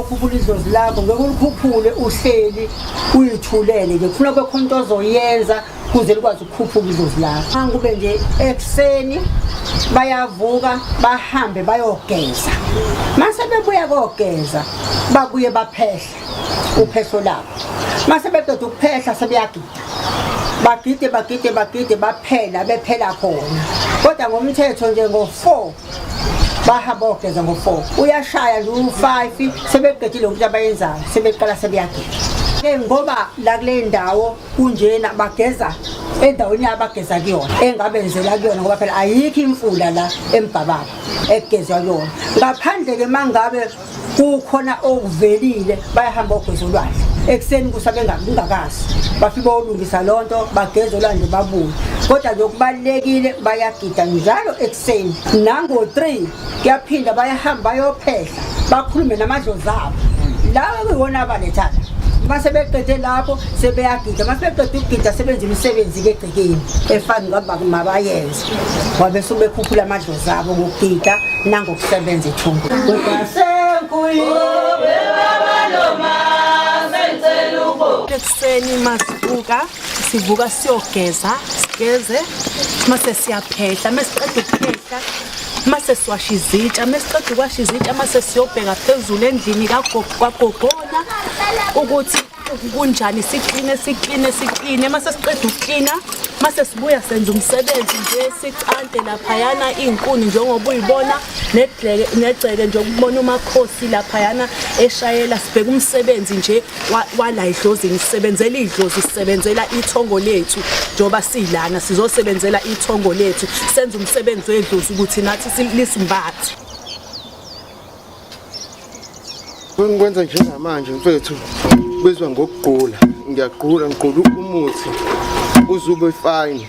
ukhuphula idlozi lakho ngeke ulikhuphule uhleli uyithulele ngifuna kwekhona into ozoyenza kuze likwazi ukukhuphuka idlozi lakho angikube nje ekuseni bayavuka bahambe bayogeza mase bebuya kogeza babuye baphehla uphehlo labo mase bedoda ukuphehla sebeyagida bagide bagide bagide baphela bephela khona kodwa ngomthetho nje ngo-four bahamba ogeza ngo-four uyashaya nje u-five sebeqedile ukuthi abayenzayo sebeqala sebeyagida ke ngoba la kule ndawo kunjena bageza endaweni abageza kuyona engabenzela kuyona ngoba phela ayikho imfula la embhababa ekugezwa kuyona ngaphandle-ke uma ngabe kukhona okuvelile bayahamba ogeza olwandle ekuseni kusa bengakazi bafike olungisa loo nto bageza olwandle babuye kodwa lokubalulekile bayagida njalo ekuseni nango-three kuyaphinda bayahamba bayophehla bakhulume namadlozi abo lawa kuyiwona abalethana uma sebeqede lapho sebeyagida uma sebeqede ukugida sebenza imisebenzi-ke egcekeni efani ngoba mabayenze ngoba bese ubekhuphula amadlozi abo ngokugida nangokusebenza ethungu ekuseni masivuka sivuka siyogeza sigeze mase siyaphehla mesiqeda ukuphehla mase siwasha izitsha mesiqeda ukwasha izitsha mase siyobheka phezulu endlini kagogona ukuthi kunjani sikline sikline sikline mase siqeda ukuklina mase sibuya senza umsebenzi nje sicante laphayana iy'nkuni njengoba uyibona negceke nje ukubona umakhosi laphayana eshayela sibheke umsebenzi nje wala idlozi ngisebenzela idlozi sisebenzela ithongo lethu njengoba silana sizosebenzela ithongo lethu senze umsebenzi wedlozi ukuthi nathi silismbathe Ngikwenza njengamanje mfethu bezwa ngokugqula ngiyagqula ngigqula umuthi uzube fine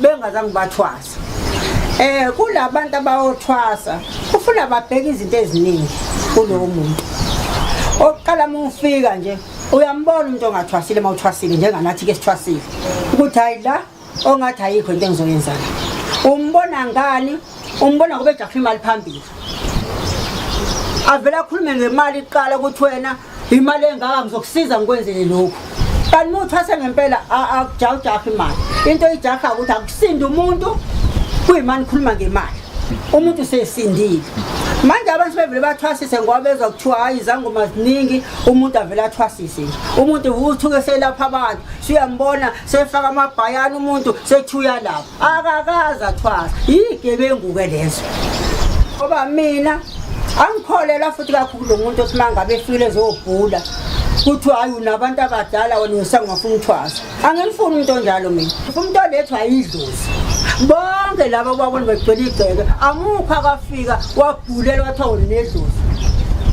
bengazange bathwasa eh kulabantu abayothwasa kufuna babheke izinto eziningi kulowo muntu oqala mufika nje uyambona umuntu ongathwasile uma uthwasile njenganathi ke sithwasile ukuthi hayi la ongathi ayikho into engizoyenzana umbona ngani umbona ngoba ejakhula imali phambili avele akhulume ngemali iqala ukuthi wena imali engaka ngizokusiza ngikwenzele lokhu kanti uma uthwase ngempela akujawujaha imali into ijaha ukuthi akusindi umuntu kuyimani khuluma ngemali umuntu usesindile manje abantu bevele bathwasise ngoba bezwa kuthiwa hhayi izangoma ziningi umuntu avele athwasise nje umuntu uthuke selapha abantu suyambona sefaka amabhayana umuntu sethi uyalapha akakaze athwasa yigebengu-ke lezo ngoba mina angikholelwa futhi kakhulu lo muntu othi mangabe efile zobhula kuthiwa hayi unabantu abadala wena usangafuna uthwasa angimfuni umuntu onjalo mina umuntu olethwa yidlozi bonke laba babona begcwele igceke amukho akafika wabhulelwa kuthiwa wena nedlozi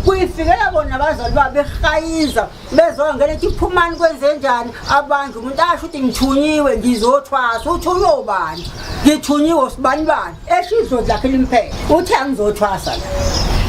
kuyifikela bona abazali babo behayiza bezongena ethi phumani kwenzenjani abantu umuntu asho ukuthi ngithunyiwe ngizothwasa uthunywe ubani ngithunyiwe sibani bani esho idlozi lakhe limphethe uthi angizothwasa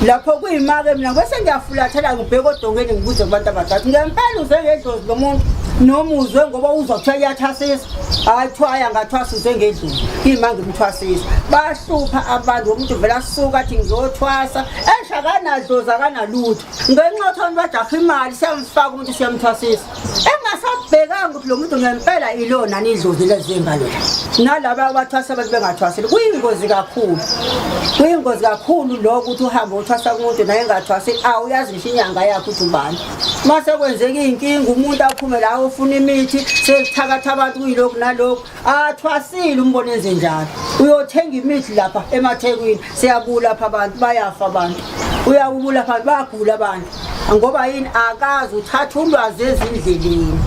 lapho kuyimake mina kwese ngiyafulathela ngibheke odongeni ngibuze kubantu abadala ngempela uze ngedlozi lo muntu noma uzwe ngoba uzwa kuthiwa iyathasisa hhayi kuthiwa aya ngathwasa uze ngedlozi kuyima ngimthwasisa bahlupha abantu womuntu vele asuka athi ngizothwasa esho akanadlozi akanalutho ngenxa yothoni bajakha imali siyamfaka umuntu siyamthwasisa engasabhekanga ukuthi lo muntu ngempela ilona nidlozi lezinga lela nalaba abathwasa abantu bengathwaseli kuyingozi kakhulu kuyingozi kakhulu lokho ukuthi uhambe uthwasa kumuntu naye engathwasi awuyazi ngisho inyanga yakhe ukuthi ubani uma sekwenzeka iy'nkinga umuntu aphume la ofuna imithi sekuthakatha abantu kuyilokhu nalokhu athwasile umbona enze njalo uyothenga imithi lapha emathekwini siyagula lapha abantu bayafa abantu uyawubula lapha bagula abantu ngoba yini akazi uthatha ulwazi ezindleleni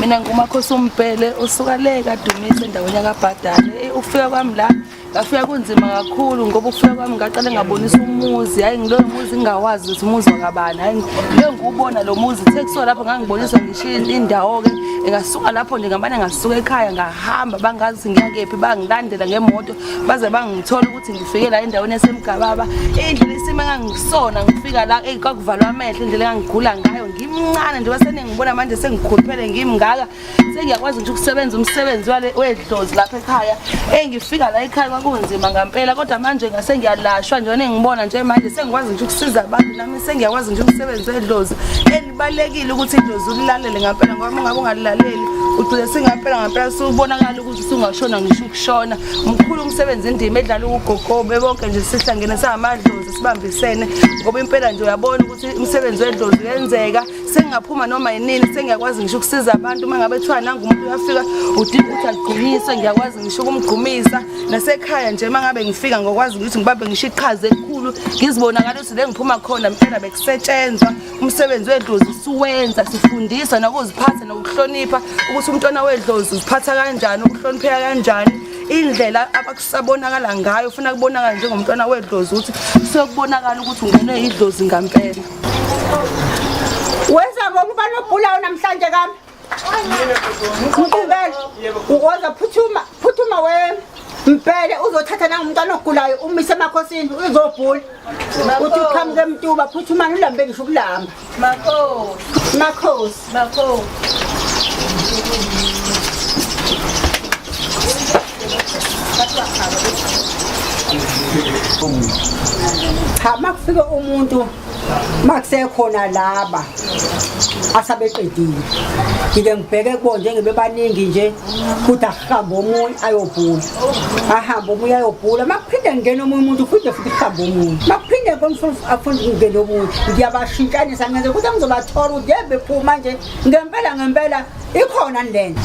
mina ngumakhosi umbhele usuka le kadumise endaweni yakabhadane ufika kwami la ngafika kunzima kakhulu ngoba ukufika kwami ngaqale ngabonisa umuzi hayi ngiloyo muzi ngingawazi ukuthi umuzi wakabani hayi leyo ngiwubona lo muzi kuthe kusuka lapho ngangiboniswa ngisho indawo-ke ngasuka lapho nje ngamane ngasuka ekhaya ngahamba bangazi ukuthi ngiya kephi bangilandela ngemoto baze bangithola ukuthi ngifike la endaweni esemgababa indlela isimo engangisona ngifika la eyi kwakuvalwa amehlo indlela engangigula ngayo ngimncane nje basenengibona manje sengikhuluphele ngimngaka sengiyakwazi nje ukusebenza umsebenzi wale wedlozi lapha ekhaya engifika la ekhaya kwakunzima ngampela kodwa manje ngase ngiyalashwa njena engibona nje manje sengikwazi nje ukusiza abantu nami sengiyakwazi nje ukusebenza wedlozi elibalekile ukuthi idlozi ulilalele ngampela ngoba ungabe ungalilaleli ugcine singampela ngampela siwubonakala ukuthi singashona ngisho ukushona mkhulu umsebenzi indima edlala ukugogobe bonke nje sihlangene samadlozi sibambisene ngoba impela nje uyabona ukuthi umsebenzi wedlozi uyenzeka sengingaphuma noma yinini sengiyakwazi ngisho ukusiza abantu uma ngabe kuthiwa nangu umuntu uyafika udinga ukuthi agqunyiswe ngiyakwazi ngisho ukumgqumisa nasekhaya nje uma ngabe ngifika ngokwazi ukuthi ngibambe ngisho iqhaza elikhulu ngizibonakala ukuthi le ngiphuma khona mpela bekusetshenzwa umsebenzi wedlozi siwenza sifundisa nokuziphatha nokuhlonipha ukuthi umntwana wedlozi uziphatha kanjani ukuhlonipheka kanjani indlela abakusabonakala ngayo ufuna kubonakala njengomntwana wedlozi ukuthi sekubonakala ukuthi ungenwe yidlozi ngampela Wenza ngokuba nobhulawo namhlanje kami. Mkubele uwoza phuthuma phuthuma we Mpele uzothatha na umntwana ogulayo umise emakhosini uzobhula. Uthi uqhamuke emtuba phuthuma ulambe ngisho ukulamba. Makhosi. Makhosi. Bakho. Cha makufike umuntu makusekhona laba asabeqedile ngike ngibheke kubo njengebebaningi nje futhi ahambe omunye ayobhula ahambe omunye ayobhula makuphinde ngingena omunye umuntu uphinde futhi kuhambe omunye makuphinde konifuna afunde ukungena omunye ngiyabashintshanisa ngenze ukuthi angizobathola ukuthi yebe phuma nje ngempela ngempela ikhona le nto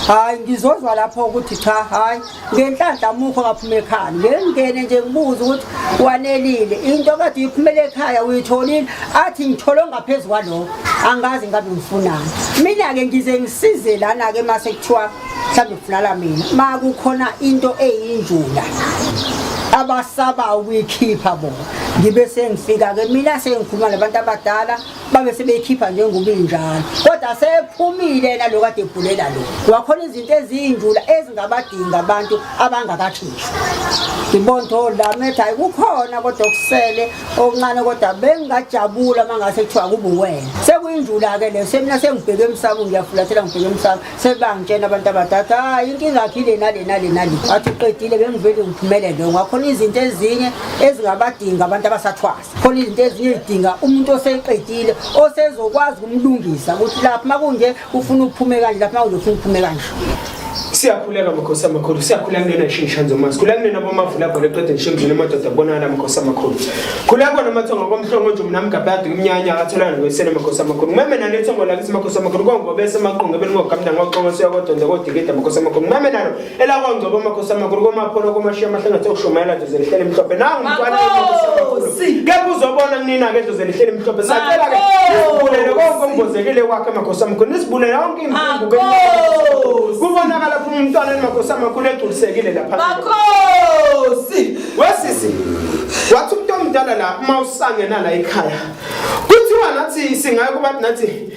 hhayi ngizozwa lapho ukuthi cha hhayi ngenhlanhla mukho ngaphuma ekhaya ngengene nje ngibuza ukuthi wanelile into kade uyiphumela ekhaya uyitholile athi ngithole ngaphezu kwalokho angazi ngabe ngifunani mina-ke ngize ngisize lana-ke uma sekuthiwa mhlawumbe kufunala mina ma kukhona into eyinjula abasabayo ukuyikhipha bona ngibe sengifika-ke mina sengikhuluma nabantu abadala babe sebeyikhipha njengobinjalo kodwa sephumile yena lo kade ebhulela lo wakhona izinto ezinjula ezingabadinga abantu abangakakhishwa ngibona ukuthi oh, olamet hayi kukhona kodwa kusele okuncane kodwa bengingajabula uma ngase kuthiwa kubuwena sekuyinjula-ke leyo semina sengibheke emsamo ngiyafulathela ngibheke emsamo sebangitshena abantu abadada hayi inkinga yakho ile nale nale nale wathi uqedile bengivele ngiphumelele ngakhona izinto ezinye ezingabadinga abantu abasathwasa khona izinto ezinye zidinga umuntu oseqedile osezokwazi ukumlungisa ukuthi lapho uma kunje ufuna ukuphume kanje lapho uma kunje ufuna ukuphume kanje siyakhuleka makhosi amakhulu siyakhula kunena ishingishanzo mazi khula kunena bomavula gona eqede ngisho emzini amadoda kubonakala makhosi amakhulu khula kona amathongo komhlongo nje mina mgabhadi kumnyanya akatholana nokwesene makhosi amakhulu ngimeme nalo ithongo lakithi makhosi amakhulu kongobe esemaqunga belingogamna ngoxongo siyakodonda kodikida makhosi amakhulu ngimeme nalo elakwangcobo amakhosi amakulu komapholo komashiya amahlangathe okushumayela dlozi elihleli mhlophe nangu mntwana kepha uzobona kunina ke dlozi elihleli mhlophe sacela ke nisibulele konke ombozekile kwakhe amakhosi amakhulu nisibulele yonke imfungu kubonakala phuma umntwana emakhosi amakhulu egculisekile lapha makhosi wesisi wathi umuntu omdala la uma usangenala ekhaya kuthiwa nathi singaye kubantu nathi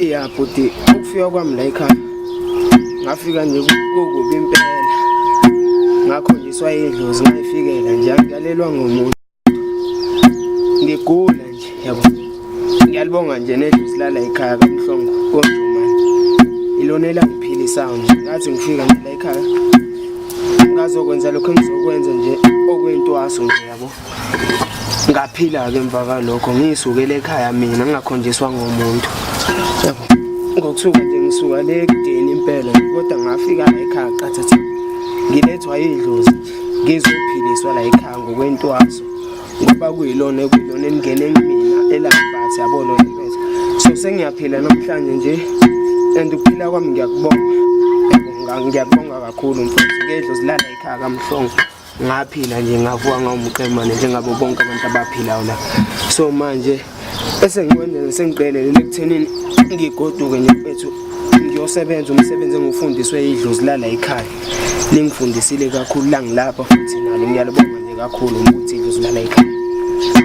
ya bhuti ukufika kwami la ekhaya ngafika nje kukubi impela ngakho ngiswayedlozi ngayifikela nje angilalelwa ngomuntu ngigula nje yabo ngiyalibonga nje nedlusi lala ekhaya kamhlongo konjumane ilona elangiphilisayo nje ngathi ngifika nje la ekhaya ngazokwenza lokho engizokwenza nje okwentwaso nje yabo ngaphila-ke emva kalokho ngiyisukele ekhaya mina ngingakhonjiswa ngomuntu yabo ngokusuka nje ngisuka le kudeni impela kodwa ngafika la ekhaya qathatha ngilethwa yidlozi ngizophiliswa la ekhaya ngokwentwaso ngoba kuyilona ekuyilona elingene kumina elambatha yabona impetha so sengiyaphila namhlanje nje and ukuphila kwami ngiyakubonga ngiyakubonga kakhulu mfowethu ngedlo zilala ekhaya kamhlongo ngaphila nje ngavuka ngawumqemane njengabo bonke abantu abaphilayo la so manje Esengikwenze sengiqelelele ekuthenini ngigoduke nje mfethu ngiyosebenza umsebenzi engufundiswe idlozi lala ekhaya. Lingifundisile kakhulu la ngilapha futhi nalo ngiyalibonga nje kakhulu ukuthi idlozi lala ekhaya.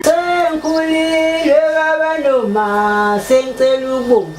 Sengikhulile baba noma sengicela ukubonga